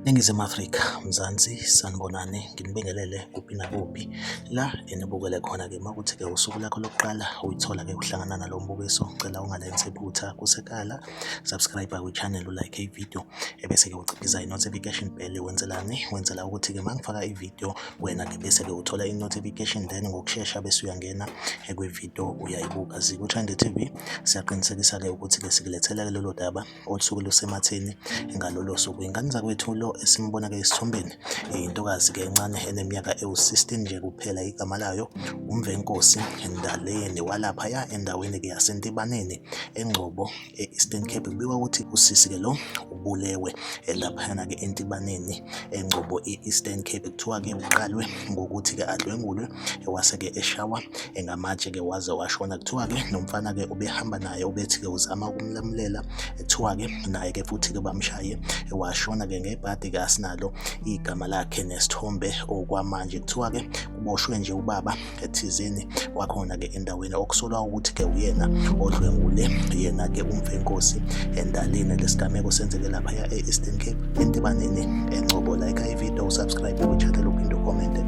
Ningizimu Afrika, Mzansi, sanibonani, nginibingelele kuphi nakuphi la enibukele khona-ke makuthi-ke usuku lakho lokuqala uyithola-ke uhlangana nalo mbukiso, ngicela ungalenzi iphutha kusekala, subscribe kwi-channel, ulike ividiyo, ebese-ke uciphiza i-notification bell, wenzelani? Wenzela ukuthi-ke mangifaka ividiyo wena-ke bese-ke uthola i-notification then ngokushesha bese uyangena kwi-video uyayibuka ziku-trend tv siyaqinisekisa-ke ukuthi-ke sikulethela-ke lolo daba olusuke lusematheni ngalolo suku ingane zakwethu lo esimbona-ke esithombeni intokazi-ke encane eneminyaka ewu-16 nje kuphela igama layo umvenkosi ndaleni walaphaya endaweni-ke yasentebaneni engcobo e-Eastern Cape kubikwa ukuthi usisi-ke lo ubulewe laphayana-ke entibaneni engcobo e-Eastern Cape kuthiwa-ke uqalwe ngokuthi-ke adlwengulwe wase-ke eshawa ngamatshe-ke waze washona kuthiwa-ke nomfana-ke ubehamba naye ubethi-ke uzama ukumlamulela kuthiwa-ke naye-ke futhi-ke bamshaye washona-ke ngebhadi-ke asinalo igama lakhe nesithombe okwamanje kuthiwa-ke kuboshwe nje ubaba thizeni wakhona-ke endaweni okusolwa ukuthi-ke uyena odlwengule yena-ke umfenkosi endalini lesigameko senzeke laphaya e-eastern cape entibaneni engcobo like ivideo usubscribe kwichannel uphinde ucommente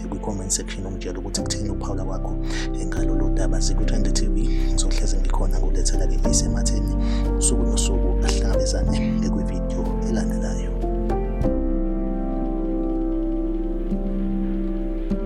kwi-comment section ungitshela ukuthi kuthini ukuphawula kwakho engalolu daba zikwi-20 tv ngizohleze ngikhona ngulethela-ke isematheni usuku nosuku ahlangabezane ekwivideo elandelayo